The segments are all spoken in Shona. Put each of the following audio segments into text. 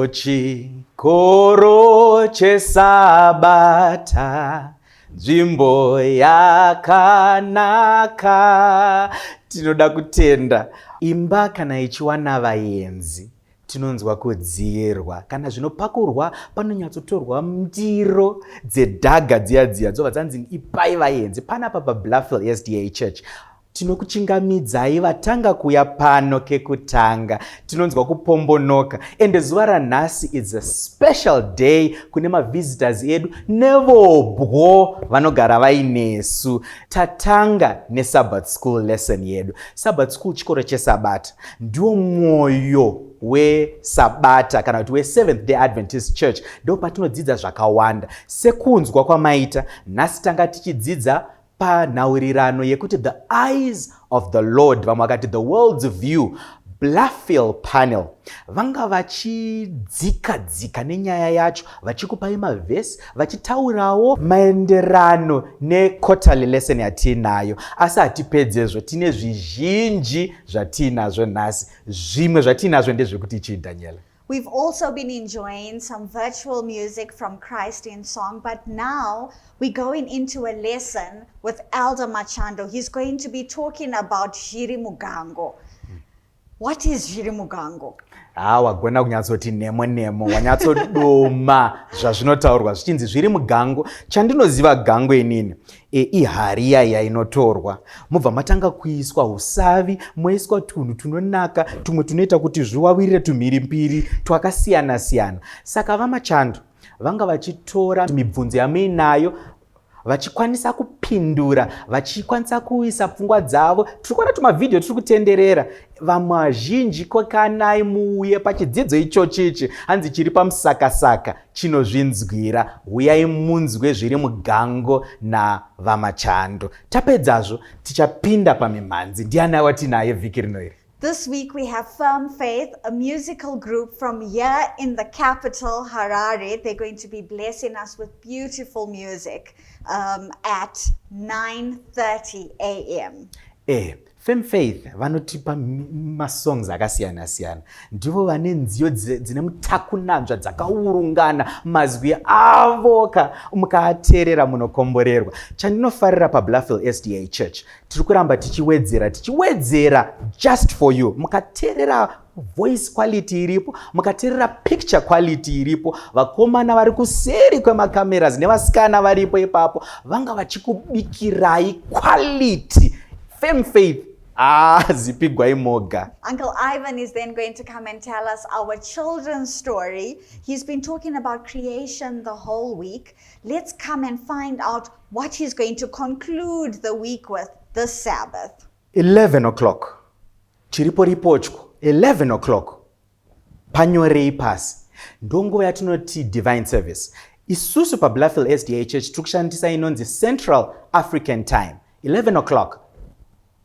Ochikoro chesabata nzvimbo yakanaka tinoda kutenda imba kana ichiwana vayenzi tinonzwa kudziyerwa kana zvinopakurwa panonyatsotorwa ndiro dzedhaga dziya dziya dzobva dzanzi ipai vayenzi panapa pabluffel sda church Tinokuchingamidzai vatanga kuuya pano kekutanga. Tinonzwa kupombonoka ende zuva ranhasi is a special day kune mavisitors edu nevobwo vanogara vainesu. Tatanga nesabbat school lesson yedu. Sabbat school chikoro chesabata ndiwo mwoyo wesabata kana kuti weseventh day adventist church ndopatinodzidza zvakawanda sekunzwa kwamaita nhasi tanga tichidzidza panhaurirano yekuti the eyes of the lord vamwe vakati the world's view blafil panel vanga vachidzika dzika nenyaya yacho vachikupai mavhesi vachitaurawo maenderano nequarterly lesson yatiinayo asi hatipedzezvo tine zvizhinji zvatiinazvo nhasi zvimwe zvatiinazvo ndezvekuti chii daniela We've also been enjoying some virtual music from Christ in Song, but now we're going into a lesson with Elder Machando. He's going to be talking about Jiri Mugango. What is Jiri Mugango? Ah, wagona kunyatsoti nemo nemo wanyatsodoma zvazvinotaurwa zvichinzi zviri mugango chandinoziva gango inini e ihari iya yainotorwa mobva matanga kuiswa usavi moiswa tunhu tunonaka tumwe tunoita kuti zviwawirire tumhiri mbiri twakasiyana siyana saka vamachando vanga vachitora mibvunzo yamuinayo vachikwanisa kupindura vachikwanisa kuisa pfungwa dzavo tiri kuona tumavhidhiyo tiri kutenderera vamwe vazhinji kokanai muuye pachidzidzo ichochichi hanzi chiri pamusakasaka chinozvinzwira huyai munzwe zviri mugango navamachando tapedzazvo tichapinda pamimhanzi ndiani awatinaye vhiki rino iri This week we have Firm Faith, a musical group from here in the capital, Harare. They're going to be blessing us with beautiful music um, at 9.30 a.m. Eh, Fem Faith vanotipa masongs akasiyana siyana. Ndivo vane nziyo dzine mutakunanzva dzakaurungana mazwi avo ka mukaateerera munokomborerwa. Chandinofarira paBluffel SDA Church tiri kuramba tichiwedzera tichiwedzera just for you. Mukateerera voice quality iripo mukaterera picture quality iripo vakomana vari kuseri kwemacameras nevasikana varipo ipapo vanga vachikubikirai quality fame faith Ah, zipigwai moga. Uncle Ivan is then going to come and tell us our children's story. He's been talking about creation the whole week. Let's come and find out what he's going to conclude the week with this Sabbath. 11 o'clock. Chiripo ripo chko 11 o'clock panyorei pasi ndonguva yatinoti divine service isusu pabluffil sda church tiri kushandisa inonzi central african time 11 o'clock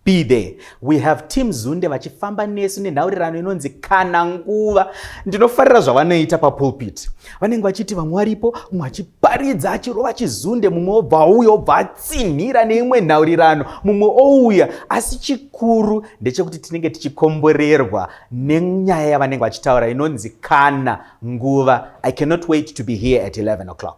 be there we have team zunde vachifamba nesu nenhaurirano inonzi kana nguva ndinofarira zvavanoita papulpit vanenge vachiti vamwe varipo mumwe achiparidza achirova chizunde mumwe obva auya obva tsinhira neimwe nhaurirano mumwe ouya asi chikuru ndechekuti tinenge tichikomborerwa nenyaya yavanenge vachitaura inonzi kana nguva i cannot wait to be here at 11 o'clock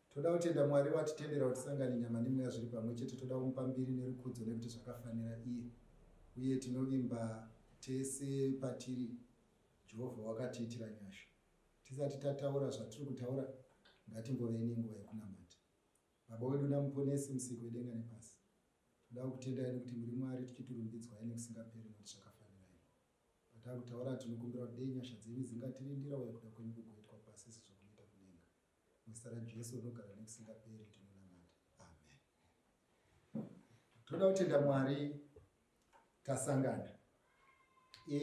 Toda kutenda Mwari watitendera kuti sanga nenyama nemweya zviri pamwe chete toda kumupa mbiri nerukudzo nekuti zvakafanira iye uye tinovimba tese patiri Jehovha wakatiitira nyasha. Tisati tataura zvatiri kutaura ngatimbovei nenguva yekunamata. Baba wedu naMuponesi musiki wedenga nepasi, toda kukutendai nekuti muri Mwari tichiturumbidzwai nekusingaperi nekuti zvakafanira iye. Patakutaura tinokumbira kuti dei nyasha dzenyu dzingatirindira uye kuda kwenyu kugoitwa pasi sezvo Muzita raJesu unogara nekusingaperi tinonamata. Amen. Toda kutenda Mwari tasangana. E,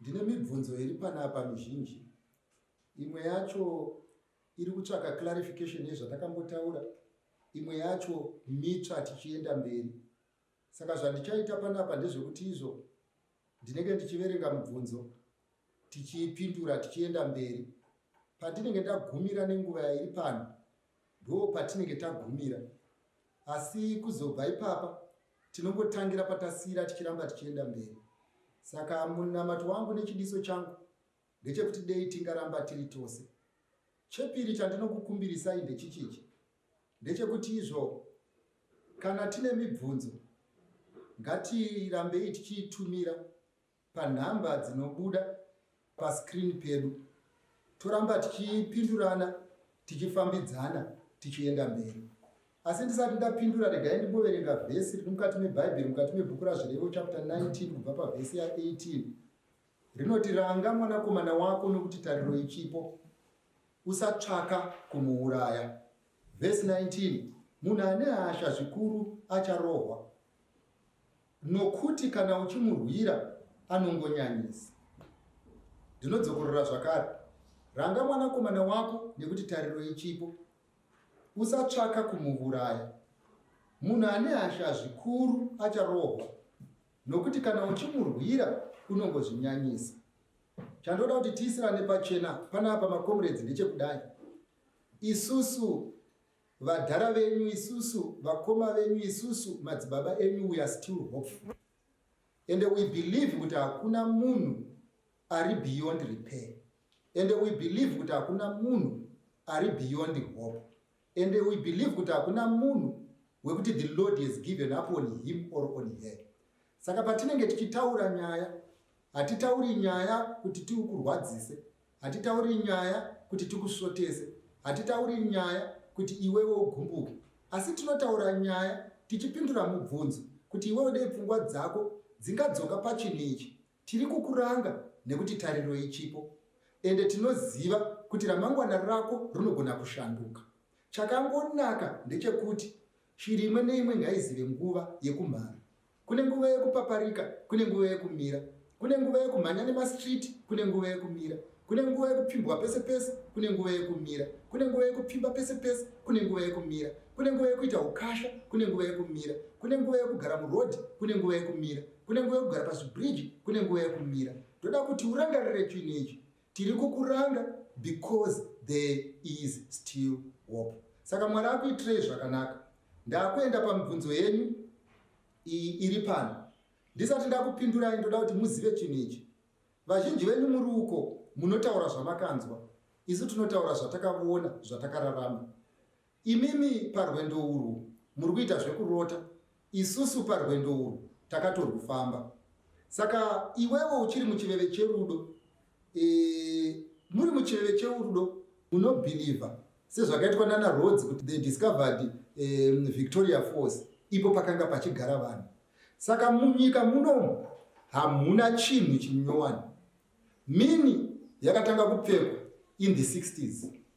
ndine mibvunzo iri panapa mizhinji. Imwe yacho iri kutsvaka clarification yezvatakambotaura. Imwe yacho mitsva tichienda mberi. Saka zvandichaita panapa ndezvekuti izvo ndinenge ndichiverenga mubvunzo tichiipindura tichienda mberi patinenge tagumira nenguva yairi pano ndoo patinenge tagumira asi kuzobva ipapa tinongotangira patasiyira tichiramba tichienda mberi saka munamato wangu nechidiso changu ndechekuti dei tingaramba tiri tose chepiri chandinokukumbirisai ndechichichi ndechekuti izvo kana tine mibvunzo ngatirambei tichiitumira panhamba dzinobuda pascreen pedu toramba tichipindurana tichifambidzana tichienda mberi asi ndisati ndapindura regai ndimboverenga vhesi riri mukati mebhaibheri mukati mebhuku razvirevo chapter 19 kubva pavhesi ya18 rinoti ranga mwanakomana wako nokuti tariro ichipo usatsvaka kumuuraya vhesi 19 munhu ane hasha zvikuru acharohwa Nokuti kana uchimurwira anongonyanyisa. Ndinodzokorora zvakare, ranga mwanakomana wako nekuti tariro ichipo. Usatsvaka kumuvuraya. Munhu ane hasha zvikuru acharohwa, nokuti kana uchimurwira unongozvinyanyisa. Chandoda kuti tiisirane pachena panapa makomuredzi ndechekudai. Isusu Vadhara venyu isusu, vakoma venyu isusu, madzibaba enyu we are still hopeful. And we believe kuti hakuna munhu ari beyond repair. And we believe kuti hakuna munhu ari beyond hope. And we believe kuti hakuna munhu wekuti the Lord has given up on him or on her. Saka patinenge tichitaura nyaya, hatitauri nyaya kuti tiukurwadzise. Hatitauri nyaya kuti tikusvotese, hatitauri nyaya kuti iwewe ugumbuke, asi tinotaura nyaya tichipindura mubvunzo kuti iwewe dei pfungwa dzako dzingadzoka pachinhu ichi. Tiri kukuranga nekuti tariro ichipo ende tinoziva kuti ramangwana rako rinogona kushanduka. Chakangonaka ndechekuti shiri imwe neimwe ngaizive nguva yekumhara. Kune nguva yekupaparika, kune nguva yekumira. Kune nguva yekumhanya nemastreet, kune nguva yekumira. Kune nguva yekupfimbwa pese pese, kune nguva yekumira. Kune nguva yekupfimba pese pese, kune nguva yekumira. Kune nguva yekuita ukasha, kune nguva yekumira. Kune nguva yekugara muroad, kune nguva yekumira. Kune nguva yekugara pazvibridge, kune nguva yekumira. Ndoda kuti urangarire chinhu ichi. Tiri kukuranga because there is still hope. Saka Mwari akuitirei zvakanaka. Ndakuenda pamibvunzo yenyu iyi iri pano. Ndisati ndakupindurai ndoda kuti muzive chinhu ichi. Vazhinji venyu muri uko munotaura zvamakanzwa. Isu tinotaura zvatakaona, zvatakararama. Imimi parwendo urwu muri kuita zvekurota, isusu parwendo urwu takatorwufamba. Saka iwewe uchiri muchiveve cherudo, e, muri muchiveve cherudo unobhilivha sezvakaitwa nana Rhodes kuti they discovered um, Victoria Falls ipo pakanga pachigara vanhu. Saka munyika munomu hamuna chinhu chinyowani. Mini yakatanga kupfekwa in the 60s.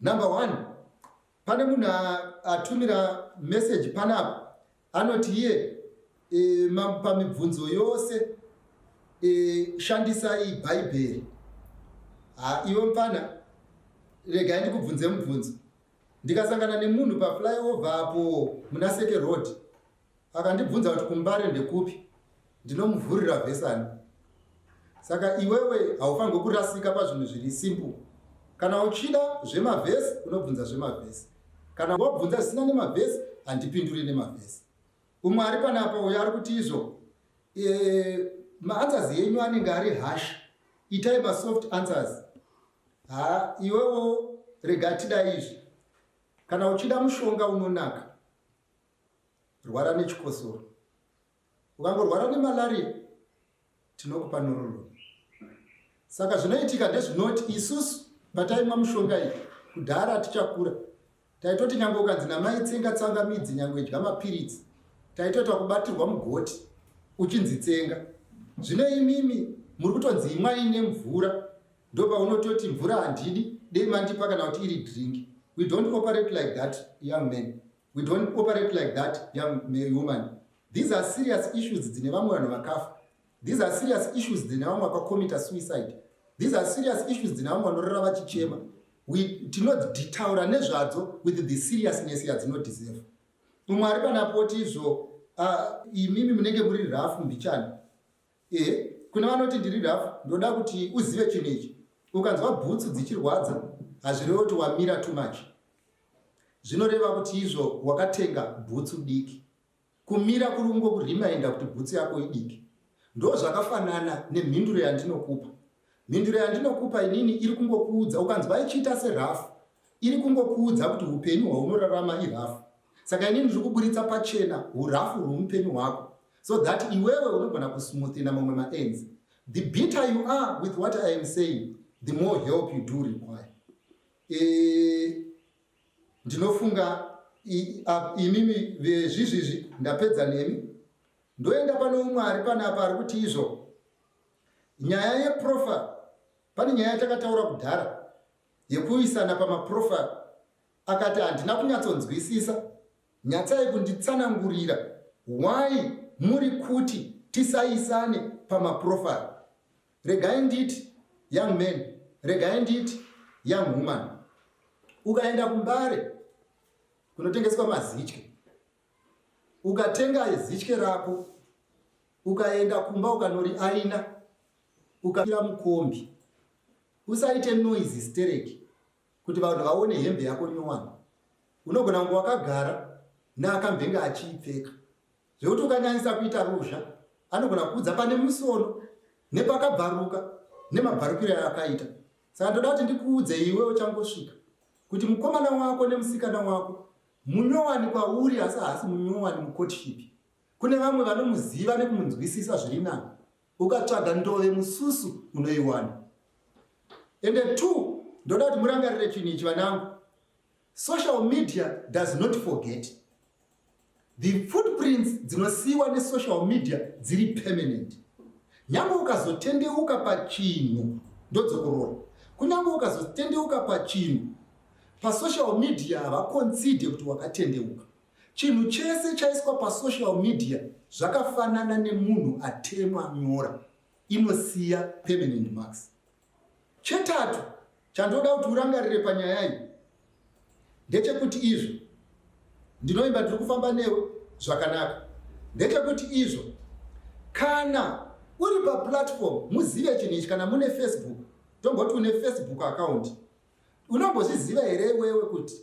Number one, pane munhu atumira message panapa anoti iye e, pamibvunzo yose e, shandisai bhaibheri. Ha, iwe mfana, regai ndikubvunze mubvunzo. Ndikasangana nemunhu paflyover apo muna Seke Road, Akandibvunza kuti kuMbare ndekupi, ndinomuvhurira vhesi ani. Saka iwewe haufanirwe kurasika pazvinhu zviri simple. Kana uchida zvemavhesi unobvunza zvemavhesi. Kana wabvunza zvisina nemavhesi handipinduri nemavhesi. Umwe ari panapa uyo ari kuti izvo eh, maanswers yenyu anenge ari hash itai masoft answers ha iwewo rega tida izvi kana uchida mushonga unonaka rwara nechikosoro ukangorwara nemalaria tinokupa norolon saka zvinoitika ndezvinoti isusu pataimwa mushonga iyi kudhara tichakura taitoti nyange ukanzi namai tsenga tsanga midzi nyange idya mapiritsi taitoita kubatirwa mugoti uchinzi tsenga zvino imimi muri kutonzi imwai nemvura ndopaunototi mvura handidi dei mandipa kana kuti iri drink we don't operate like that young man We don't operate like that young woman. These are serious issues dzine vamwe vanhu vakafa. These are serious issues dzine vamwe vakakomita suicide. These are serious issues dzine vamwe vanorara vachichema. Tinoditaura nezvadzo with the seriousness yadzinodeserve. Mumwe ari panapoti izvo ah, imimi munenge muri rafu mbichana. Ehe, kune vanoti ndiri rafu, ndoda kuti uzive chinhu ichi. Ukanzwa bhutsu dzichirwadza, hazvirevo kuti wamira too much. Zvinoreva kuti izvo wakatenga bhutsu diki. Kumira kuri kungokuremainda kuti bhutsu yako idiki. Ndozvakafanana nemhinduro yandinokupa. Mhinduro yandinokupa inini iri kungokuudza ukanzwa ichiita serafu iri kungokuudza kuti upenyu hwaunorarama irafu. Saka inini ndiri kuburitsa pachena urafu rweupenyu hwako so that iwewe unogona kusmoothinger mamwe maends. The bitter you are with what I am saying, the more help you do require. E, ndinofunga imimi vezvizvizvi ndapedza nemi ndoenda pane umwe ari panapa ari kuti izvo Nyaya yeprofile pane nyaya yatakataura kudhara yekuisana pamaprofile akati handina kunyatsonzwisisa nyatsai kunditsanangurira why muri kuti tisaisane pamaprofile regai nditi young man regai nditi young woman ukaenda kumbare kunotengeswa mazitye ukatenga zitye rako ukaenda kumba ukanori aina ukaira mukombi usaite noise stereki kuti vanhu vaone hembe yako nyowani unogona kunge wakagara neakambenge achiipfeka zvekuti ukanyanyisa kuita ruzha anogona kuudza pane musono nepakabvaruka nemabvarukiro yaakaita saka ndoda kuti ndikuudze iwe uchangosvika kuti mukomana wako nemusikana wako Munyowani kwauri asi haasi munyowani mucourtship. Kune vamwe vanomuziva nekumunzwisisa zviri nani. Ukatsvaga ndove mususu unoiwana. Ende two, ndoda kuti murangarire chinhu ichi vanangu. Social media does not forget. The footprints dzinosiiwa nesocial media dziri permanent. Nyangwe ukazotendeuka pachinhu ndodzokorora. Kunyange ukazotendeuka pachinhu pasocial media havakonzide kuti wakatendeuka chinhu chese chaiswa pasocial media zvakafanana nemunhu atemwa nyora inosiya permanent marks chetatu chandoda kuti urangarire panyaya iyi ndechekuti izvo ndinoimba ndiri kufamba newe zvakanaka ndechekuti izvo kana uri paplatform muzive chinhu ichi kana mune facebook tomboti une facebook account Unombozviziva here iwewe kuti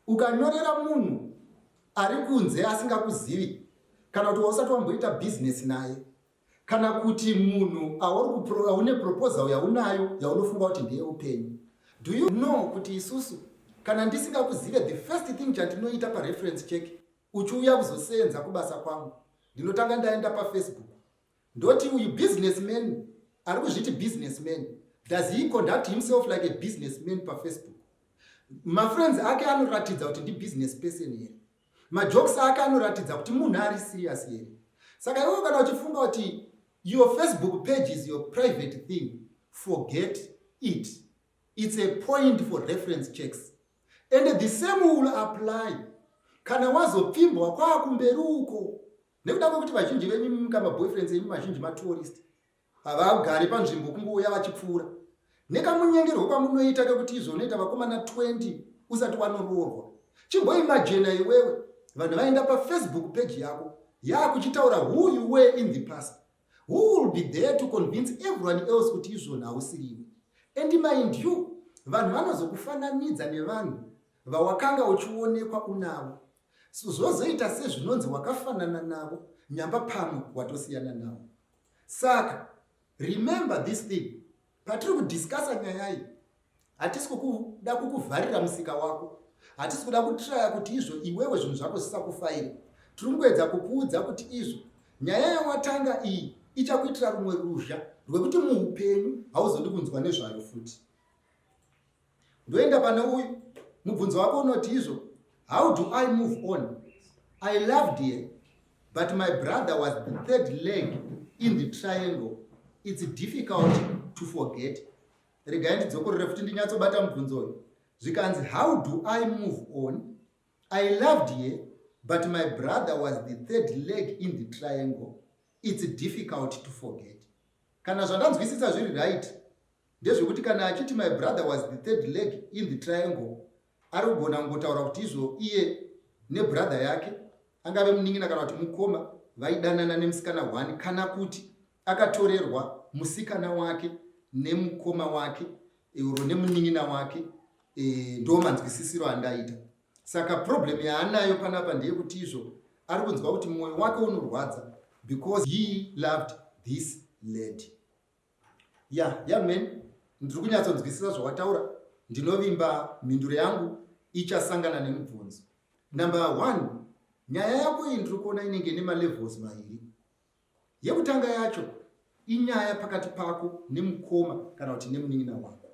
ukanyorera munhu ari kunze asingakuzivi kana kuti wausati wamboita bhizinesi naye kana kuti munhu aune proposal yaunayo yaunofunga kuti ndeye upenyu do you know kuti isusu kana ndisingakuzive the first thing chandinoita pareference check uchiuya kuzoseenza kubasa kwangu ndinotanga ndaenda pafacebook Ndoti uyu business man ari kuzviti business man does he conduct himself like a business man pafacebook mafriends ake anoratidza kuti ndi business person here majokes ake anoratidza kuti munhu ari serious here saka iwo kana uchifunga kuti your facebook page is your private thing forget it it's a point for reference checks and the same will apply kana wazopfimbwa kwaakumberi uko nekuda kwekuti vazhinji venyu mimika maboyfriends enyu mazhinji matourist havagare panzvimbo kungouya vachipfuura nekamunyengerwo kwamunoita kekuti izonoita vakomana 20 usati wanoroorwa chimboimajena iwewe vanhu vaenda pafacebook page yako yaakuchitaura who you were in the past who will be there to convince everyone else kuti izvona hausiriwe and mind you vanhu vanozokufananidza nevanhu vawakanga uchionekwa unavo Zvozoita sezvinonzi wakafanana navo nyamba pamwe watosiyana navo. Saka remember this thing patiri kudiscussa nyaya iyi hatisi kukuda kukuvharira musika wako hatisi kuda kutraya kuti izvo iwewe zvinhu zvako zvisakufaira tiri kungoedza kukuudza kuti izvo nyaya yawatanga iyi ichakuitira rumwe ruzha rwekuti muupenyu hauzodi kunzwa nezvayo futi ndoenda pane uyu mubvunzo wako unoti izvo how do i move on i loved her but my brother was the third leg in the triangle its difficult to forget regai ndidzokorere futi ndinyatsobata mubvunzo uyu zvikanzi how do i move on i loved her but my brother was the third leg in the triangle its difficult to forget kana zvandanzwisisa zviri right Ndezvekuti kana achiti my brother was the third leg in the triangle ari kugona kungotaura kuti izvo iye nebrother yake angave munin'ina kana kuti mukoma vaidanana nemusikana one kana kuti akatorerwa musikana wake nemukoma wake uro nemunin'ina wake e, ndo manzwisisiro andaita saka problem yaanayo panapa ndeyekuti izvo ari kunzwa kuti mwoyo wake unorwadza because he loved this lady ya ya men ndiri kunyatsonzwisisa zvawataura ndinovimba mhinduro yangu ichasangana nemubvunzo number one nyaya yako iyi ndiri kuona inenge nemalevels maviri yekutanga yacho inyaya pakati pako nemukoma kana kuti nemunin'ina wako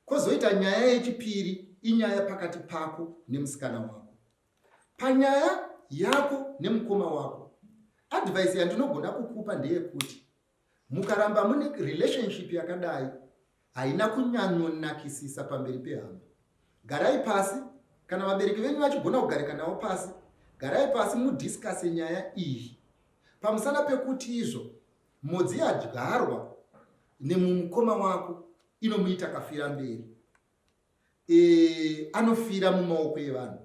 kwozoita nyaya yechipiri inyaya pakati pako nemusikana wako panyaya yako nemukoma wako advhaisi yandinogona kukupa ndeyekuti Mukaramba mune relationship yakadai haina kunyanyonakisisa pamberi pehama. Garai pasi, kana vabereki venyu vachigona kugarika navo pasi, garai pasi mudiscase nyaya iyi. Pamusana pekuti izvo modzi yadyarwa nemumukoma wako inomuita kafira mberi, e, anofira mumaoko evanhu.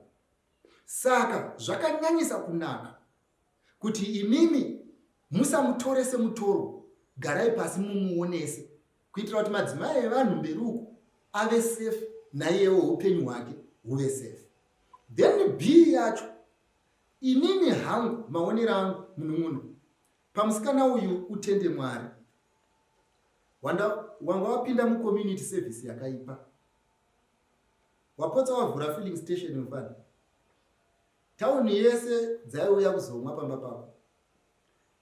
Saka zvakanyanyisa kunaka kuti imimi musamutore semutoro garai pasi mumuonese kuitira kuti madzimai evanhu mberi uku ave safe naiyewo upenyu hwake huve safe then b yacho inini hangu maonero angu munun'una pamusikana uyu utende mwari wanga wapinda mucommunity service yakaipa wapotsa wavhura filling station mufana Tauni yese dzaiuya kuzomwa pamba pako.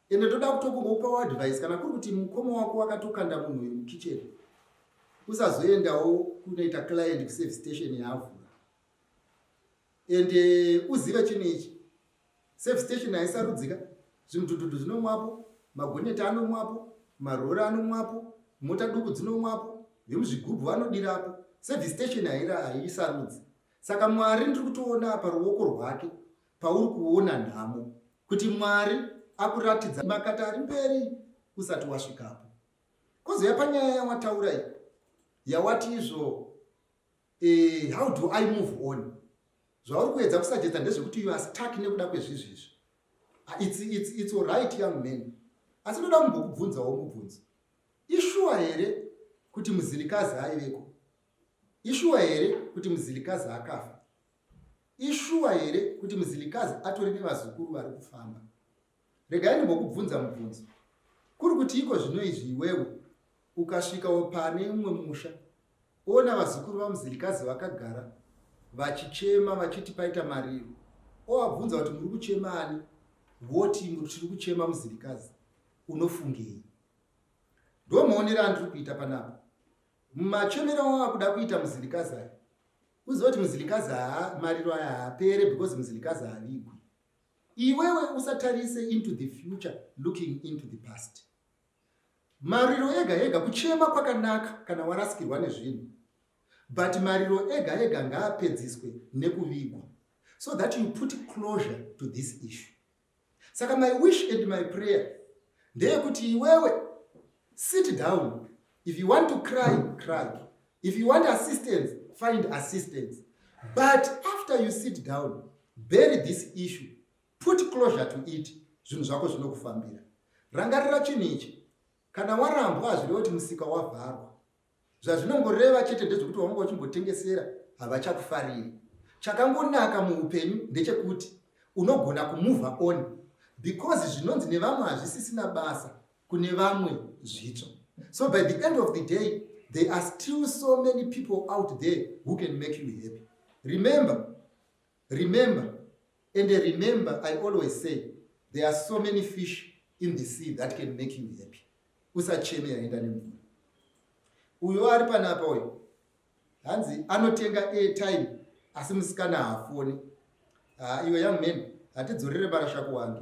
Ende ndoda kutokumbopawo advice kana kuri kuti mukoma wako wakatokanda munhu uyu mukitchen. Usazoendawo kunoita client kuservice station yaavhura. Ende uzive chinhu ichi. Service station haisarudzika. Zvimudhudhudhu zvinomwapo, magoneti anomwapo, marori anomwapo, mota duku dzinomwapo, vemuzvigubhu vanodirapo. Service station haira haisarudzi. Saka Mwari ndiri kutoona apa ruoko rwake pauri kuona nhamo kuti Mwari akuratidza makata ari mberi usati wasvikapo. Kozouya panyaya yawataura iyi yawati izvo eh, how do I move on? Zvauri kuedza kusajedza ndezvekuti you are stuck nekuda kwezvizvi izvi. Ah, it's, it's, it's all right young man. Asi ndoda kumbokubvunzawo mubvunzo. Ishuwa here kuti muzirikazi aiveko? Ishuwa here kuti muzilikazi akafa? Ishuwa here kuti muzilikazi atori nevazukuru vari kufamba? Regai ndimbokubvunza mubvunzo. Kuri kuti iko zvino izvi iwewe ukasvikawo pane umwe musha ona vazukuru vamuzilikazi vakagara vachichema vachiti paita mariro owabvunza kuti muri kuchema ani voti tiri kuchema muzirikazi unofungei ndomaonera andiri kuita panapa Machomero awa kuda kuita muzilikazi aya. Uziva kuti muzilikazi haa mariro aya haapere because muzilikazi haavigwi. Iwewe usatarise into the future looking into the past. Mariro ega ega kuchema kwakanaka kana warasikirwa nezvinhu. But mariro ega ega ngaapedziswe nekuvigwa so that you put closure to this issue. Saka my wish and my prayer ndeyekuti iwewe sit down if you want to cry cry if you want assistance find assistance but after you sit down bury this issue put closure to it zvinhu zvako zvinokufambira rangarira chinhu ichi kana warambwa hazvireva kuti musika wavharwa Zvazvinongoreva chete ndezvekuti vamwe vachimbotengesera havachakufariri. Chakangonaka muupenyu ndechekuti unogona kumuvha on because zvinonzi nevamwe hazvisisina basa kune vamwe zvitsva. So by the end of the day there are still so many people out there who can make you happy. Remember Remember and remember I always say there are so many fish in the sea that can make you happy. Usacheme yaenda nemvura. Uyo ari panapa uyo hanzi anotenga airtime asi musikana hafoni. Ah, iwe young man hatidzorere marasha kuwangi.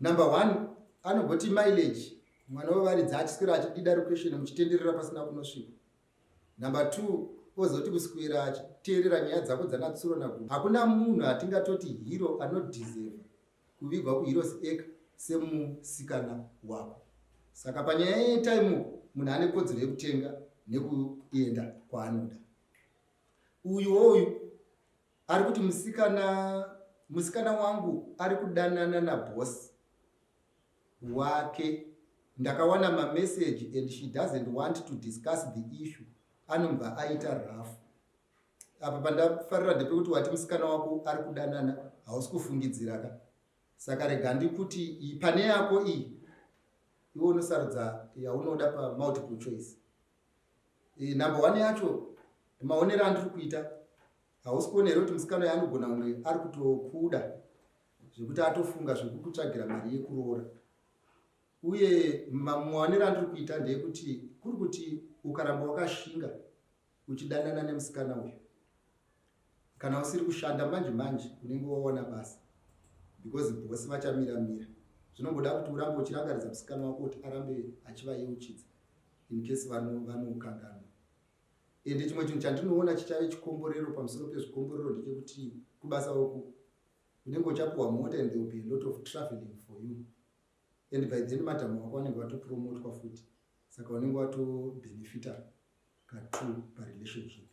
Number one, anogoti mileage mwana wevaridza achiswera achidida requestion muchitenderera pasina kunosvika. Number two, ozoti kuswera achiteerera nyaya dzako dzanatsuro nagu. Hakuna munhu atingatoti hero anodizeva kuvigwa kuheroes eka semusikana wako. Saka panyaya yetime munhu ane kodzero yekutenga nekuenda kwaanoda. Uyu woyu Ari kuti musikana musikana wangu ari kudanana naboss wake ndakawana mamessage and she doesn't want to discuss the issue anobva aita rough apa pandafarira ndepekuti wati musikana wako ari kudanana hausi kufungidziraka saka rega ndikuti pane yako iyi iwe unosarudza yaunoda pamultiple choice Eh, number one yacho maonero andiri kuita hausi kuona here kuti musikana uyo anogona kunge ari kutokuda zvekuti atofunga zvekukutsvagira mari yekuroora uye maonero andiri kuita ndeyekuti kuri kuti ukaramba wakashinga uchidanana nemusikana uyo Kana usiri kushanda manje manje unenge wawana basa because boss vachamira mira. Zvinomboda kuti urambe uchirangaridza musikana wako kuti arambe achivayeuchidza in case vanokanganwa. Vano and chimwe chinhu chandinoona chichave chikomborero pamusoro pezvikomborero ndechekuti kubasa uku unenge uchapiwa mota and there will be a lot of traveling for you and by then madam wako vanenge vatopromotwa futi saka unenge watobenefita katru parelationship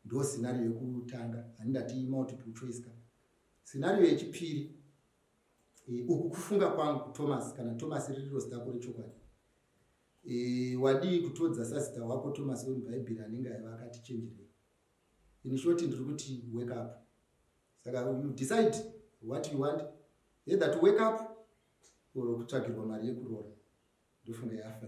Ndo scenario yekutanga ani ndati multiple choice ka. Scenario yechipiri e, uku kufunga kwangu Thomas kana Thomas ririro zita kuri chokwadi. E, wadii kutodza sasita wako Thomas wemubhaibheri anenge aiva akati chenjerei. In short ndiri kuti wake up. Saka you decide what you want either to wake up or kutsvagirwa mari yekuroora ndofunga yafa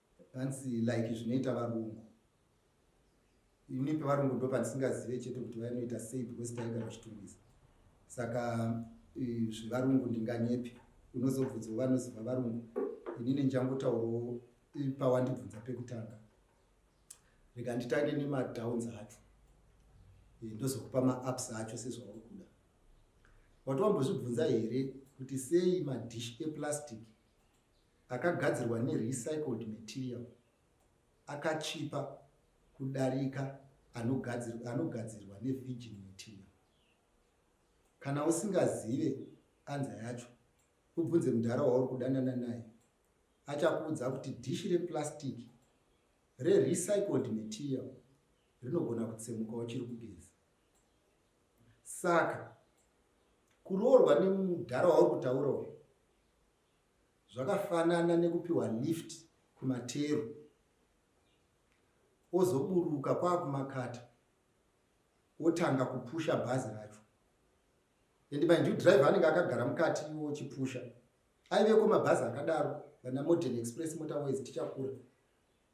Hanzi like zvinoita varungu. Ini pevarungu ndo pandisingazive chete kuti vainoita sei because taigara vachitungisa. Saka zvevarungu ndinganyepi. Unozobvunzwa vanoziva varungu. Ini ndichangotaurawo pawandibvunza pekutanga. Rega nditange nemadowns acho. Ndozokupa maups acho sezvauri kuda. Wati wambozvibvunza here kuti sei madish eplastic akagadzirwa nerecycled material akachipa kudarika anogadzirwa, anogadzirwa nevirgin material kana usingazive anza yacho ubvunze mudhara wauri kudanana naye achakuudza kuti dishi replastic rerecycled material rinogona kutsemuka uchiri kugeza saka kuroorwa nemudhara wauri kutaura uyu Zvakafanana nekupiwa lift kumateru ozoburuka kwakumakata otanga kupusha bhazi racho and mind you driver anenge akagara mukati iwo chipusha aiveko mabhazi akadaro vana modern express motorways tichakura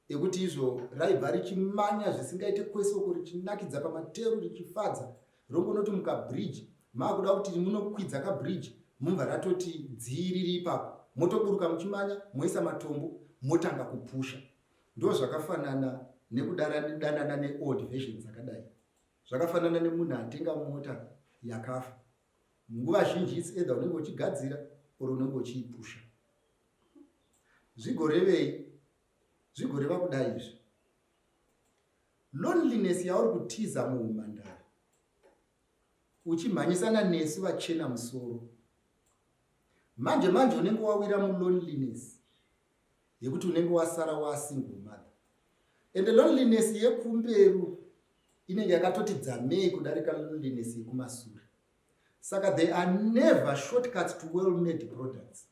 ekuti izvo raibva richimanya zvisingaite kwese uko richinakidza pamateru richifadza rongonoti mukabridge maakuda kuti munokwidza kabridge mumva ratoti dzii riri ipapo motoburuka muchimanya moisa matombo motanga kupusha ndo zvakafanana nekudanana neold version dzakadai zvakafanana nemunhu atenga mota yakafa nguva zhinji its either unenge uchigadzira or unenge uchiipusha zvigorevei zvigoreva kudai izvi loneliness yauri kutiza muumhandara uchimhanyisana nesu vachena musoro manje manje unenge wawira muloneliness yekuti unenge wasara wasingle mother and loneliness yekumberi inenge yakatoti dzamei kudarika loneliness yekumasure saka they are never shortcuts to well made products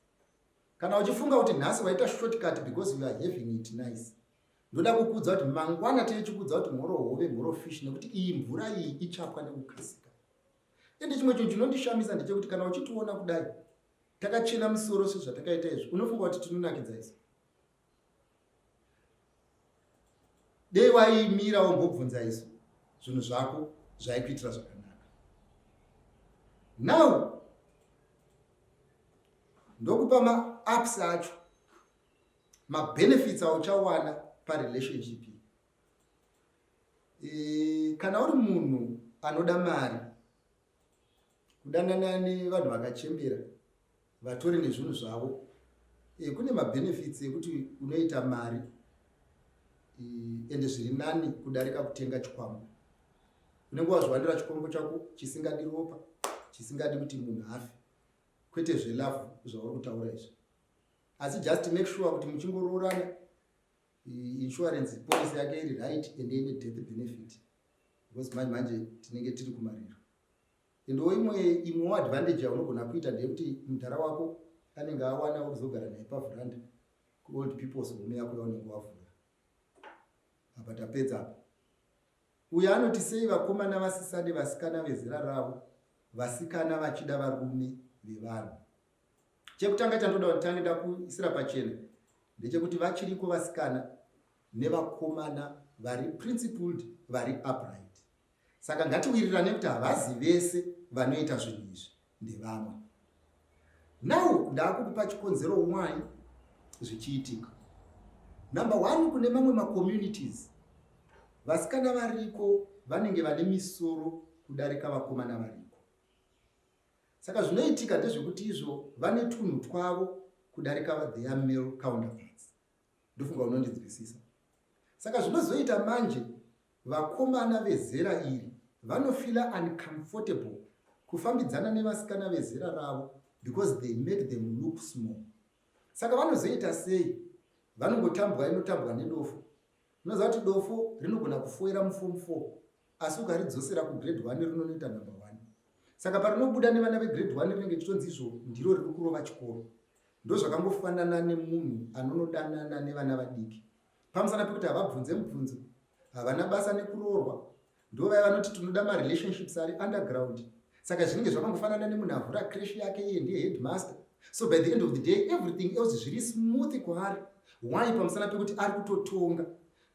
Kana uchifunga kuti nhasi waita shortcut because you are having it nice. Ndoda kukudza kuti mangwana tiri chikudza kuti mhoro hove mhoro fish nekuti iyi mvura iyi ichapwa nekukasika. Ende chimwe chinhu chinondishamisa ndechekuti kana uchitiona kudai takachena musoro sezvatakaita izvi unofunga kuti tinonakidza izvi. dei waimira wombobvunza isu zvinhu zvako zvaikuitira zvakanaka now ndokupa maaps acho mabenefits auchawana parelationship e, kana uri munhu anoda mari kudanana nevanhu vakachembera vatori nezvinhu zvavo e, kune mabenefits ekuti unoita mari e, ende zviri nani kudarika kutenga chikwambo unenge wazviwanira chikwambo chako chisingadi ropa chisingadi kuti munhu afe kwete zvelavhu zvauri kutaura izvi asi just make sure kuti muchingoroorana e, insurance policy yake iri right ende ine death benefit because manje manje tinenge tiri kumariro endo imwe imwewo advantage yaunogona kuita ndeyekuti mudhara wako anenge awana wekuzogara naye pavhuranda kuold peoples home yako yaunenge wavhura apa tapedza apa uyo anoti sei vakomana vasisade vasikana vezera ravo vasikana vachida varume vevanhu chekutanga chandoda kuti tange ndakuisira pachena ndechekuti vachiriko vasikana nevakomana vari principled vari upright saka ngatiwirirane kuti havazi vese vanoita zvinhu izvi ndevamwe now ndaakukupa chikonzero why zvichiitika number one kune mamwe macommunities vasikana variko vanenge vane misoro kudarika vakomana variko saka zvinoitika ndezvekuti izvo vane tunhu twavo kudarika their male counterparts ndofunga unondinzwisisa saka zvinozoita manje vakomana vezera iri vanofila uncomfortable kufambidzana nevasikana vezera ravo because they make them look small saka vanozoita sei vanongotambwa inotambwa nedofo unoziva kuti dofo rinogona kufoira mufom four asi ukaridzosera kugrade one rinonoita number one saka parinobuda nevana vegrade one rinenge chitonzi izvo ndiro riri kurova chikoro ndozvakangofanana nemunhu anonodanana nevana vadiki pamusana pekuti havabvunze mubvunzo havana basa nekuroorwa ndovaya vanoti tinoda marelationships ari underground saka zvinenge zvakangofanana nemunhu avhura crash yake iye ndiye headmaster so by the end of the day everything else zviri smooth kwaari why pamusana pekuti ari kutotonga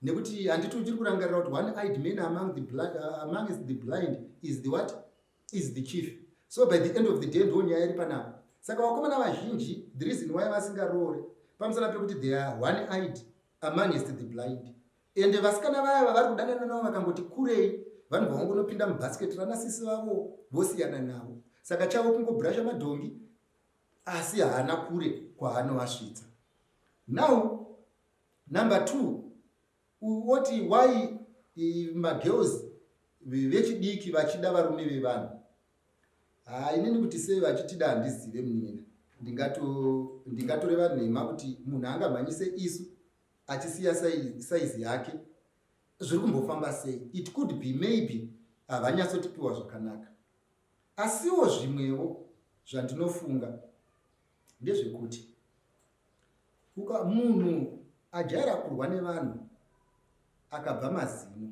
nekuti handiti uchiri kurangarira kuti one eyed man among the blind, uh, amongst the blind is the what is the chief so by the end of the day ndo nyaya iri panapa saka vakomana vazhinji the reason why vasingaroore pamusana pekuti they are one eyed amongst the blind ende vasikana vaya vavari kudanana navo vakangoti kurei vanhu vavangonopinda mubhasiketi rana sisi vavo vosiyana navo saka chavo kungobrasha madhongi asi haana kure kwaanovasvitsa now Number two, woti why magirls vechidiki vachida varume vevanhu. Haa ah, inini kuti sei vachitida handizive munina. Ndingatoreva nhema kuti munhu angamhanyise isu achisiya saizi yake. Zviri kumbofamba sei? It could be maybe havanyatsotipiwa zvakanaka. Asiwo zvimwewo zvandinofunga ndezvekuti uka munhu ajaira kurwa nevanhu akabva mazino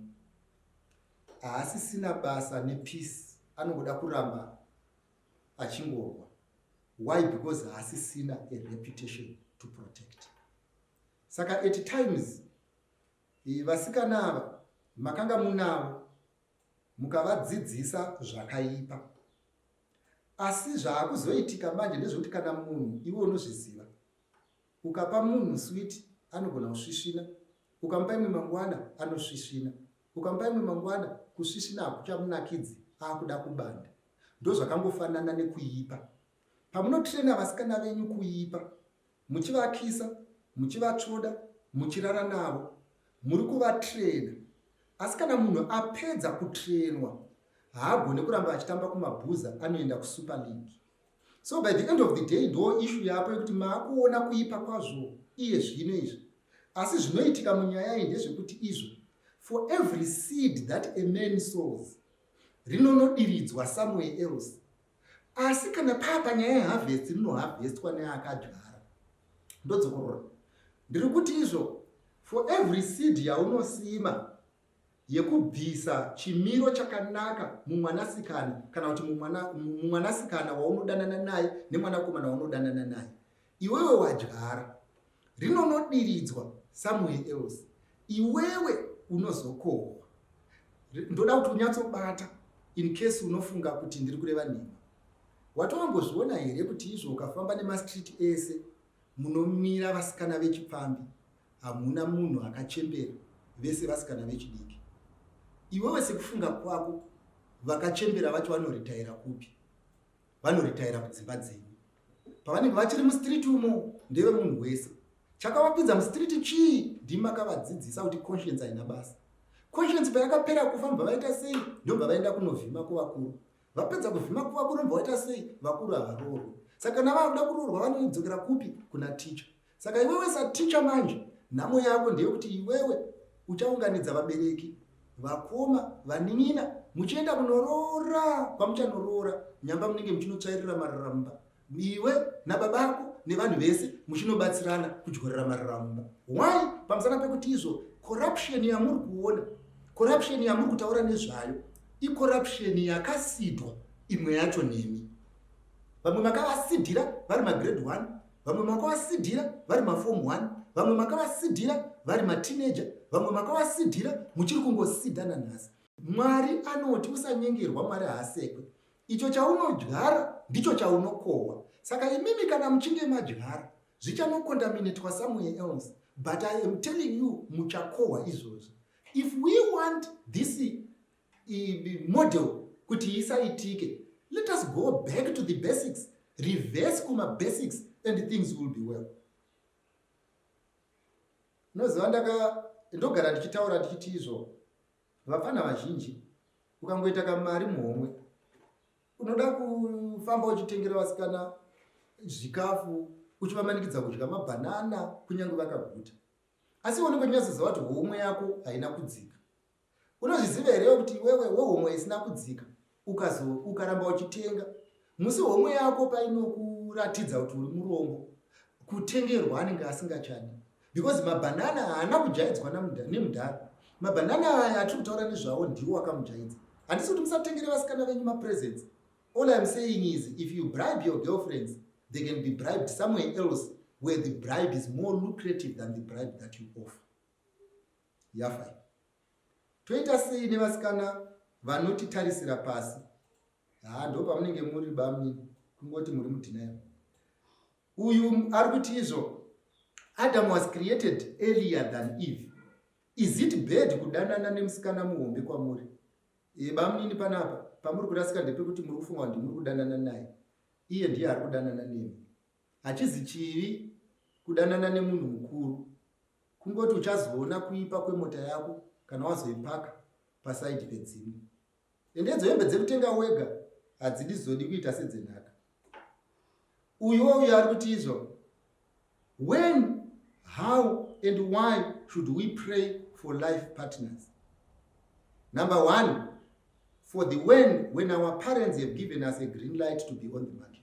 haasisina basa nepeace anongoda kuramba achingorwa why because haasisina a reputation to protect saka at times eh, vasikana ava makanga munavo mukavadzidzisa zvakaipa Asi zvaakuzoitika manje ndezvekuti kana munhu iwe unozviziva ukapa munhu switi anogona kusvisvina ukamupa imwe mangwana anosvisvina ukamupa imwe mangwana kusvisvina hakuchamunakidzi aakuda kubanda ndozvakangofanana nekuipa pamunotrena vasikana venyu kuipa muchivakisa, muchivatsvoda, muchirara navo, muri kuvatrena. Asi kana munhu apedza kutrenwa haagone kuramba achitamba kumabhuza anoenda kusuper league. So by the end of the day ndoo ishu yapo yekuti maakuona kuipa kwazvo iye zvino izvi. Asi zvinoitika munyaya iyi ndezvekuti izvo for every seed that a man sows rinonodiridzwa somewhere else asi kana paa panyaya yeharvest rinoharvestwa neakadyara ndodzokorora ndiri kuti izvo for every seed yaunosima yekubvisa chimiro chakanaka mumwanasikana kana kuti mumwanasikana waunodanana naye nemwanakomana waunodanana naye Iwewe wadyara rinonodiridzwa somewhere else. Iwewe unozokohwa. Ndoda kuti unyatsobata in case unofunga kuti ndiri kureva nhema. Watowambozviona here kuti izvo ukafamba nemastreet ese munomira vasikana vechipfambi hamuna munhu akachembera vese vasikana vechidiki. Iwewe sekufunga kwako vakachembera vacho vanoritaira kupi? Vanoritaira kudzimba dzenyu. pavanenge vachiri mustreet umo ndeve munhu wese chakavakwidza mustreet chii ndimakavadzidzisa kuti conscience haina basa conscience payakapera kufa mubva vaita sei ndobva vaenda kunovhima kuvakuru vapedza kuvhima kuvakuru mubva vaita sei vakuru havaroorwe saka kana vakuda kuroorwa vanodzokera kupi kuna ticha Saka iwewe saticha manje nhamo yako ndeyekuti iwewe uchaunganidza vabereki, vakoma, vanin'ina muchienda kunoroora kwamuchanoroora nyamba munenge muchinotsvairira marara mumba iwe nababa ako nevanhu vese muchinobatsirana kudyorera marara mumba. Why? Pamusana pekuti izvo corruption yamuri kuona, corruption yamuri kutaura nezvayo icorruption yakasidwa imwe yacho nemi. Vamwe makavasidhira vari magrade 1 vamwe makavasidhira vari mafom 1 vamwe makavasidhira vari matineja vamwe makavasidhira muchiri kungosidhana nhasi mwari anoti usanyengerwa mwari haasekwe icho chaunodyara ndicho chaunokohwa saka imimi kana muchinge madyara zvichanokondaminetwa somewhere else but i am telling you muchakohwa izvozvi if we want this model kuti isaitike let us go back to the basics reverse kuma basics and things will be well noziva ndaka ndogara ndichitaura ndichiti izvo vapfana vazhinji ukangoita kamari muhomwe unoda kufamba uchitengera vasikana zvikafu uchivamanikidza kudya mabhanana kunyange vakaguta asi unenge unyasoziva kuti homwe yako haina kudzika Unozviziva here kuti iwewe wehomwe isina kudzika ukazo ukaramba uchitenga musi homwe yako painokuratidza kuti uri murombo kutengerwa anenge asingachani because mabhanana haana kujaidzwa nemudhara mabhanana aya atiri kutaura nezvavo ndiwo akamujaidza handisi kuti musatengere vasikana venyu mapresents all im saying is if you bribe your girlfriends they can be bribed somewhere else where the bribe is more lucrative than the bribe that you offer yafa iyi. Toita sei nevasikana vanotitarisira pasi? Haa ndo pamunenge muri bamnini kungoti muri mudhinayo. Uyu ari kuti izvo Adam was created earlier than Eve. Is it bad kudanana nemusikana muhombe kwamuri? E, bamnini panapa pamuri kurasika ndepekuti muri kufunga kuti muri kudanana naye. Iye ndiye ari kudanana nemi. Hachizi chivi kudanana nemunhu mukuru. Kungoti uchazoona kuipa kwemota yako kana wazoipaka pasaidi pedzimwe. Ende idzo hembe dzekutenga wega hadzidi zodi kuita sedzenhaka. Uyuwo uyo ari kuti izvo. When, how and why should we pray for life partners? Number one, for the when, when our parents have given us a green light to be on the market.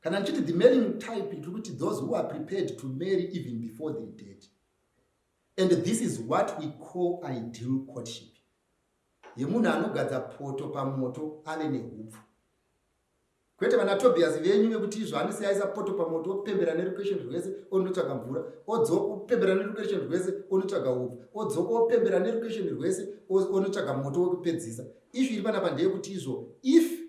kana ndichiti the mailing type tiri kuti those who are prepared to marry even before the date and this is what we call ideal courtship yemunhu anogadza poto pamoto ave neupfu kwete vana tobias venyu vekuti izvo anosiyaisa poto pamoto opembera nerucation rwese onotsvaga mvura odzoka opembera nerucation rwese onotsvaga upfu odzoka opembera nerucation rwese onotsvaga moto wekupedzisa ishu iri panapa ndeyekuti izvo if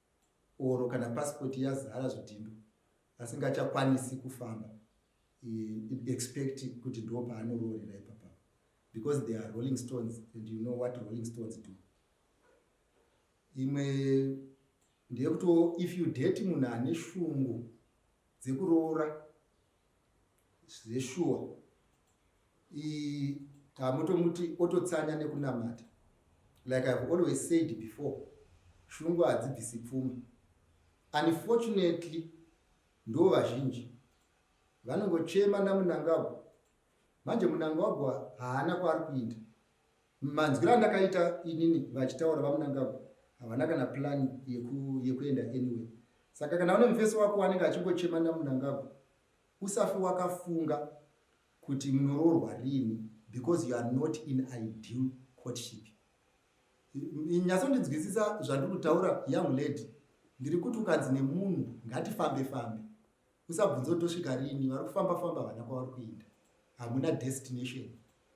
or kana passport yazara zvidhindo asingachakwanisi kufamba expect kuti ndo paanoroorera ipapa because they are rolling stones and you know what rolling stones do imwe ndeyekuti if you date munhu ane shungu dzekuroora zveshuwa iyi tamotomuti ototsanya nekunamata like ihave always said before shungu hadzibvisi pfuma unfortunately ndo vazhinji vanongochema namunangagwa manje munangagwa haana kwaari kuinda manzwiro andakaita inini vachitaura vamunangagwa havana kana plani yekuenda anyway saka kana une mufesi wako anenge achingochema namunangagwa Usafe wakafunga kuti munoroorwa rini because you are not in ideal courtship. Nyatsondinzwisisa zvandiri kutaura young lady. Ndiri kuti ukanzi nemunhu ngatifambe fambe. Usabvunze kuti tosvika rini vari kufamba famba vana kwavari kuenda. Hamuna destination.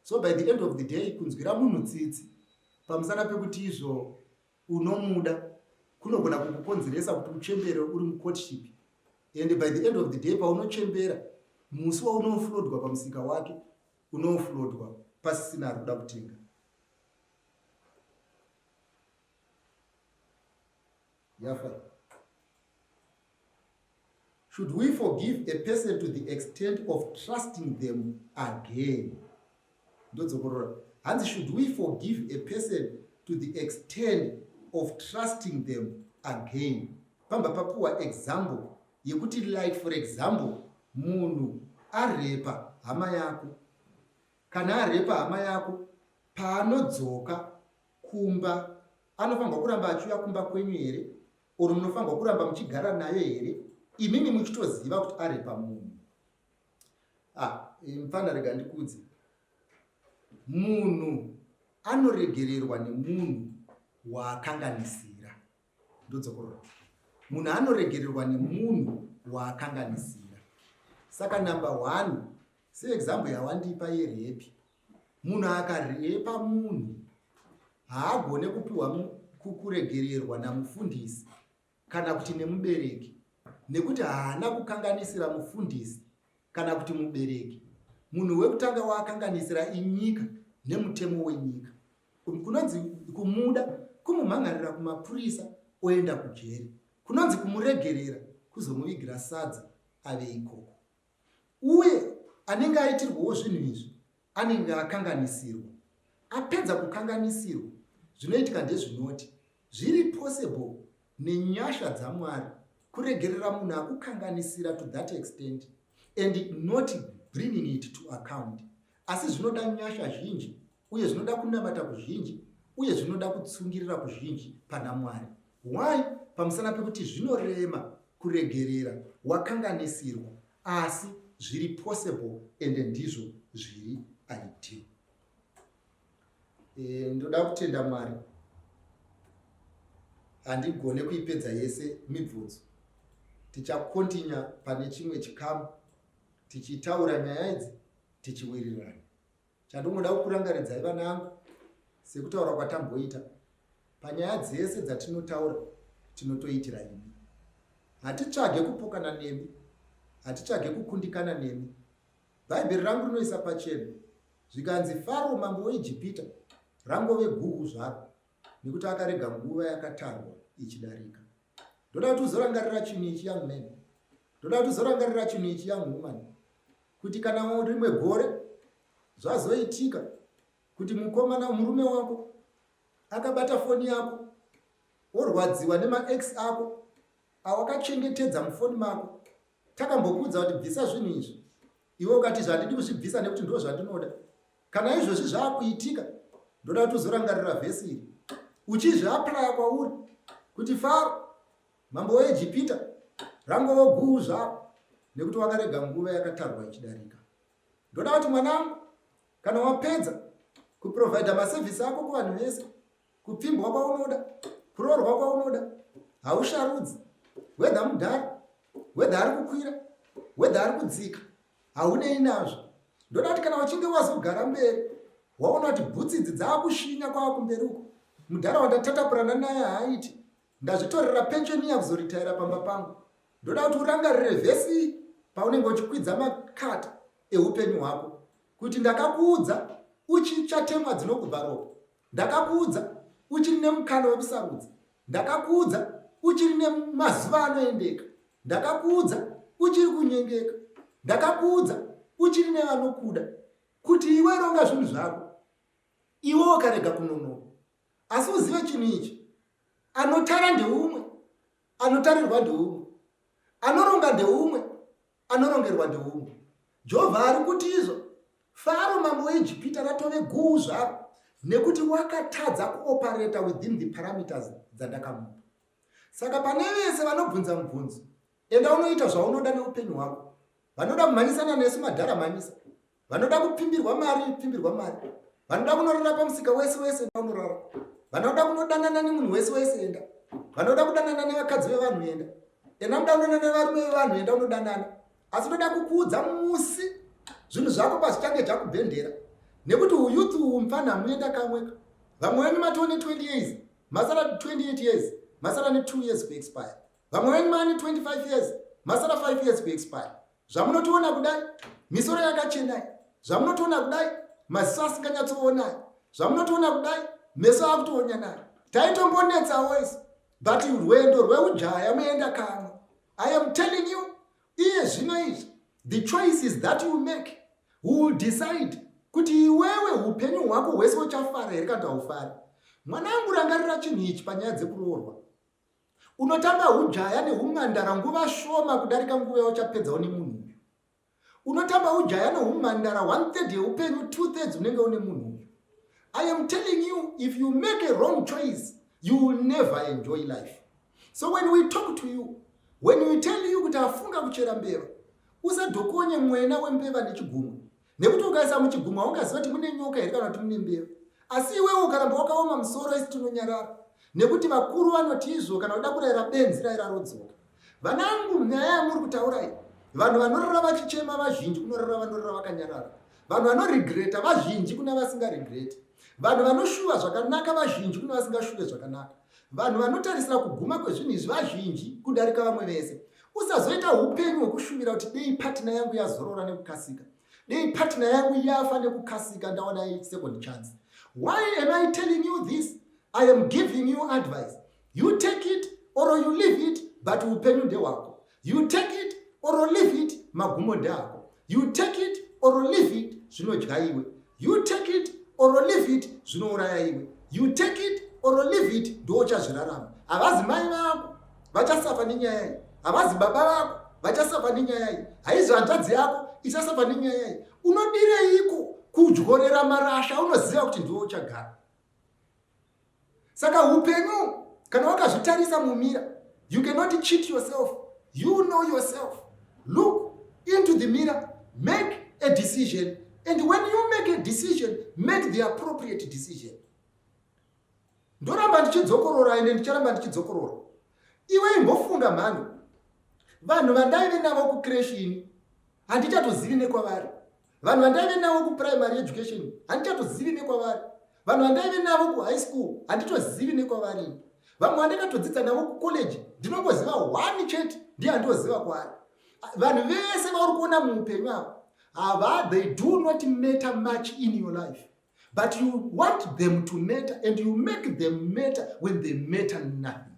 So by the end of the day kunzwira munhu tsitsi pamusana pekuti izvo unomuda kunogona kukukonzeresa kuti uchembere uri mucourtship and by the end of the day paunochembera musi waunoflodwa pamusika wake unoflodwa pasisina ari kuda kutenga yafa Should we forgive a person to the extent of trusting them again? Ndodzokorora. Hanzi should we forgive a person to the extent of trusting them again? Pamba papuwa example yekuti like for example munhu arepa hama yako. Kana arepa hama yako paanodzoka kumba anofanirwa kuramba achiuya kumba kwenyu here or munofanirwa kuramba muchigara nayo here imimi muchitoziva kuti ari pamunhu ah, mfana rega ndikudze munhu anoregererwa nemunhu waakanganisira ndodzokorora munhu anoregererwa nemunhu waakanganisira saka number one seexample yawandipa yerepi munhu akarepa munhu haagone kupiwa kuregererwa namufundisi kana kuti nemubereki nekuti haana kukanganisira mufundisi kana kuti mubereki munhu wekutanga waakanganisira inyika nemutemo wenyika kunonzi kumuda kumumhangarira kumapurisa oenda kujeri kunonzi kumuregerera kuzomuvigira sadza ave ikoko uye anenge aitirwawo zvinhu izvi anenge akanganisirwa apedza kukanganisirwa zvinoitika ndezvinoti zviri possible nenyasha dzamwari kuregerera munhu akukanganisira to that extent and not bringing it to account Asi zvinoda nyasha zhinji, uye zvinoda kunamata kuzhinji, uye zvinoda kutsungirira kuzhinji pana Mwari. Why? Pamusana pekuti zvinorema kuregerera wakanganisirwa, asi zviri possible ende ndizvo zviri ideal. E, ndoda kutenda Mwari. Handigone kuipedza yese mibvunzo. Tichakontinya pane chimwe chikamu tichitaura nyaya idzi tichiwirirana chandongoda kukurangaridzai vana angu sekutaura kwatamboita panyaya dzese dzatinotaura tinotoitira imi hatitsvage kupokana nemi hatitsvage kukundikana nemi bhaibheri rangu rinoisa pachena zvikanzi faro mambo weijipita rangove guhu zvaro nekuti akarega nguva yakatarwa ichidarika ndoda kuti uzorangarira chinhu ichi young man ndoda kuti uzorangarira chinhu ichi young woman kuti kana rimwe gore zvazoitika kuti mukomana murume wako akabata foni yako worwadziwa nemax ako awakachengetedza mufoni mako takambokuudza kuti bvisa zvinhu izvi iwe ukatizve handidi kuzvibvisa nekuti ndo zvandinoda kana izvozvi zvaakuitika ndoda kuti uzorangarira vhesi iri uchizviaplaya kwauri kuti faro mambo weejipita rangovo guu zvavo nekuti wakarega nguva yakatarwa ichidarika ndoda kuti mwanangu kana wapedza kuprovhaidha maservhisi ako kuvanhu vese kupfimbwa kwaunoda kuroorwa kwaunoda hausharudzi wedha mudhara wedha ari kukwira wedha ari kudzika haunei nazvo ndoda kuti kana uchinge wazogara mberi waona kuti bhutsi idzi dzaakushinya kwava kumberi uko mudhara wandatatapurana naye haaiti ndazvitorera pensheni yakuzoritaira pamba pangu ndoda kuti urangarire vhesi paunenge uchikwidza makata eupenyu hwako kuti ndakakuudza uchichatemwa dzinokubva ropa Ndakakuudza uchiri nemukana wekusarudza. Ndakakuudza uchiri nemazuva anoendeka. Ndakakuudza uchiri kunyengeka. Ndakakuudza uchiri nevanokuda kuti iwe ronga zvinhu zvako iwe wakarega kunonoka asi uzive chinhu ichi anotara ndeumwe anotarirwa ndeumwe anoronga ndeumwe Anorongerwa ndiumwe. Jehovha ari kuti izvo Faro mambo weIjipita ratove guu zvaro nekuti wakatadza kuopareta within the parameters dzandakamupa. Saka pane vese vanobvunza mubvunzo, enda unoita zvaunoda neupenyu hwako. Vanoda kumhanyisana nesu madhara mhanyisa. vanoda kupfimbirwa mari pfimbirwa mari vanoda kunorara pamusika wese wese enda unorara vanoda kunodanana nemunhu wese wese enda vanoda kudanana nevakadzi vevanhu enda enda muda kudanana nevarume vevanhu enda unodanana asi unoda kukuudza musi zvinhu zvako pazvichange zvakubhendera nekuti uyuth uwu mupfanha muenda kamweka vamwe venyu matoo ne 20 years masara 28 years masara ne 2 years kuexpire vamwe venyu maane 25 years masara 5 years kuexpire zvamunotiona kudai misoro yakachenai zvamunotiona kudai maziso asinganyatsoonai zvamunotiona kudai meso akutoonyanai taitombonetsawo isi but rwendo rweujaya muenda kamwe i am telling you iye zvino izvi the choice is that you make who will decide kuti iwewe upenyu hwako hwese uchafara here kana kuti haufari mwanangu rangarira chinhu ichi panyaya dzekuroorwa Unotamba hujaya nehumhandara nguva shoma kudarika nguva yauchapedzawo nemunhu uyu. Unotamba hujaya nehumhandara one third yeupenyu two thirds unenge une munhu uyu. I am telling you if you make a wrong choice you will never enjoy life. So when we talk to you, when we tell you kuti afunga kuchera mbeva, usadhokonye mwena wembeva nechigumwe. nekuti ukaisa muchigumwe haungaziva kuti mune nyoka here kana kuti mune mbeva asi iwewe ukaramba wakaoma musoro isi tinonyarara nekuti vakuru vanoti izvo kana uda kurayira benzi raira rodzoka vanangu nyaya yamuri kutaura iyi vanhu vanorara vachichema vazhinji kunorara vanorara vakanyarara vanhu vanoregreta vazhinji kuna vasingaregreti vanhu vanoshuva zvakanaka vazhinji kuna vasingashuve zvakanaka Vanhu vanotarisira kuguma kwezvinhu izvi vazhinji kudarika vamwe vese. Usazoita upenyu hwekushuvira kuti dei patina yangu yazorora nekukasika, dei patina yangu yafa nekukasika ndawana second chance. Why am I telling you this? I am giving you advice. You take it or you leave it, but upenyu ndehwako. You take it or leave it magumo ndeako. You take it or leave it zvinodya iwe. You take it or leave it zvinouraya iwe. You take it or leave it ndiwo uchazvirarama. Havazi mai vako vachasafa nenyaya iyi. Havazi baba vako vachasafa nenyaya iyi. Haizi hanzvadzi yako ichasafa nenyaya iyi. Unodireiko kudyorera marasha unoziva kuti ndiwo uchagara. Saka hupenyu kana wakazvitarisa mumira you cannot cheat yourself you know yourself look into the mirror make a decision and when you make a decision make the appropriate decision ndoramba ndichidzokorora ende ndicharamba ndichidzokorora iwe imbofunga mhando vanhu vandaive navo kucresh ini handichatozivi nekwavari vanhu vandaive navo kuprimary education handichatozivi nekwavari vanhu vandaive navo kuhigh school handitozivi nekwavari vamwe vandakatodzidza navo kucollege ndinongoziva one chete ndiye handoziva kwaari vanhu vese vauri kuona muupenyu avo hava they do not matter much in your life but you want them to matter and you make them matter when they matter nothing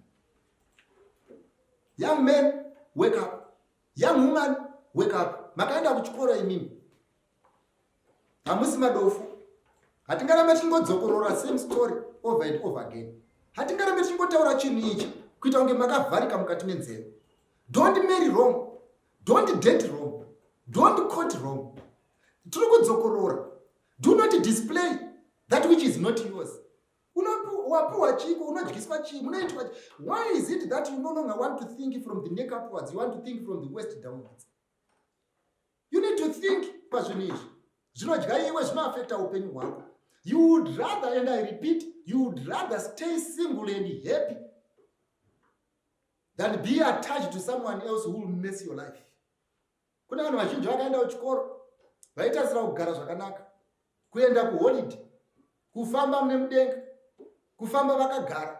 young man wake up Young woman wake up. Makaenda kuchikoro imimi. Hamusi madofu. Hatingarambe tichingodzokorora same story over and over again. Hatingarambe tichingotaura chinhu ichi kuita kunge makavharika mukati menzeve. Don't marry wrong. Don't date wrong. Don't quote wrong. Tiri kudzokorora. Do not display that which is not yours. wapiwa chiiko unodyiswa chii munoitwa why is it that you no longer want to think from the neck upwards you want to think from the west downwards you need to think pazvinhu izvi zvinodya iwe zvinoafekta upenyu hwako you would rather and i repeat you would rather stay single and happy than be attached to someone else who will mess your life Kune vanhu vazhinji vakaenda kuchikoro vaitasira kugara zvakanaka, kuenda kuholidhe, kufamba mune mudenga, kufamba vakagara.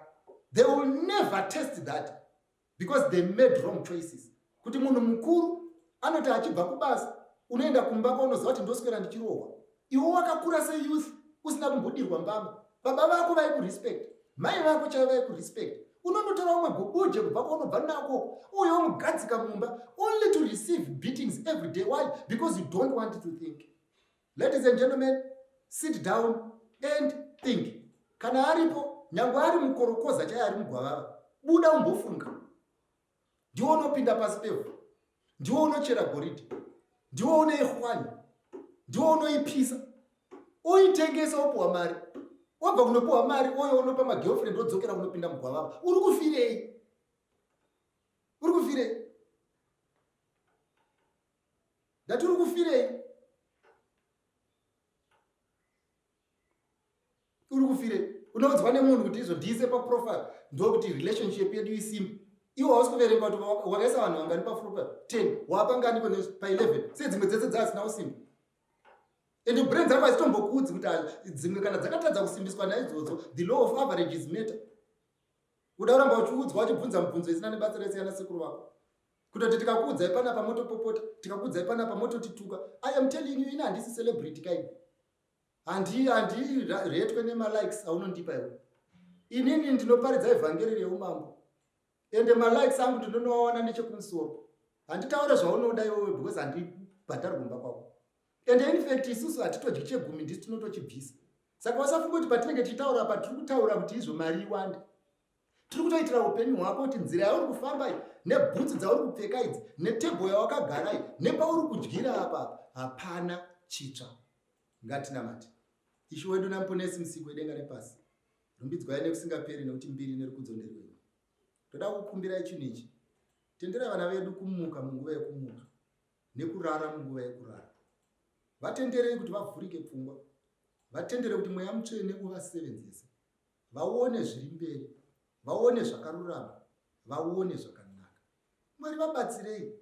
They will never test that because they made wrong choices. Kuti munhu mukuru anoti achibva kubasa unoenda kumba kwaunoziva kuti ndoswera ndichirohwa. iwo wakakura seyouth usina kumbodirwa mbama baba vako vaikurespect mai vako chaivo vaikurespect unonotora umwe gobuje kubva kwaunobva nako uyo mugadzika mumba only to receive beatings every day why because you don't want to think ladies and gentlemen sit down and think kana aripo nyange ari mukorokoza chaiye ari mugwavava buda umbofunga ndiwo unopinda pasi pevhu ndiwo unochera goridhe ndiwo unoihwani ndiwo unoipisa uitengesa wopiwa mari wabva kunopiwa mari oyo unopa magirlfriend wodzokera kunopinda mugwavava uri kufirei uri kufirei ndati uri kufirei uri kufire unoudzwa nemunhu kuti izodhiise paprofile ndokuti relationship yedu isimbi iwo hausi kuverenga kuti wakaisa vanhu vangani paprofile ten waapanganiko paeleven se dzimwe dzese dzaasina usimbi and brain dzako hazitombokuudzi kuti dzimwe kana dzakatadza kusimbiswa naidzodzo the law of average is matter uda kuramba uchiudzwa wachibvunza mubvunzo isina nebasa resiyana sekuru vako kutoti tikakuudzai panapa motopopota tikakuudzai panapa mototituka i am telling you ini handisi celebrity kaini Handi handi retwe nema likes aunondipa iwe. Inini ndinoparidza evhangeri reumambo. Ende ma likes angu ndinonoawana nechekumusoro. Handitaure zvaunoda iwewe because handi bhadhari kumba kwako. Ende in fact isusu hatitodyi chegumi ndisu tinotochibvisa. Saka wasafunga kuti patinenge tichitaura apa tiri kutaura kuti izvo mari iwande. tiri kutoitira upenyu hwako kuti nzira yauri kufamba iyi nebhutsu dzauri kupfeka idzi netebho yawakagara iyi nepauri kudyira apa hapana chitsva ngatinamati ishu wedu namuponesi musiko wedenga nepasi rumbidzwai nekusingaperi nekuti mbiri nerukudzo nderwenyu ndoda kukumbirai chinhu ichi tenderai vana vedu kumuka munguva yekumuka nekurara munguva yekurara vatenderei kuti vavhurike pfungwa vatendere kuti mweya mutsvene uvasevenzese vaone zviri mberi vaone zvakarurama vaone zvakanaka mwari vabatsirei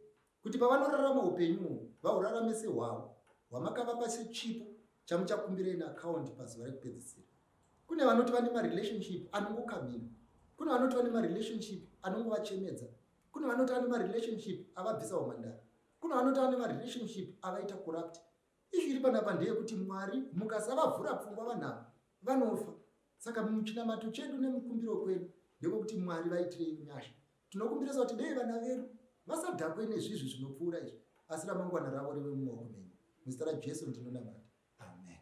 kuti pavanorarama upenyu uhu vahurarame sehwavo hwamakavapa sechipo chamuchakumbira in akaundi pazuva rekupedzisira kune vanoti vane marelationship anongokamina kune vanoti vane marelationship anongovachemedza kune vanoti vane marelationship avabvisa humandara kune vanoti vane marelationship avaita corrupt Ishu iri panapa ndeyekuti Mwari mukasavavhura pfungwa vanhu ava vanofa. Saka muchinamato chedu nemukumbiro kwedu ndekwekuti Mwari vaitirei nyasha. Tinokumbirisa kuti dei vana vedu vasadhakwe nezvizvi zvinopfuura izvi asi ramangwana ravo rive mumaoko menyu. Muzita raJesu ndinonamata. Amen.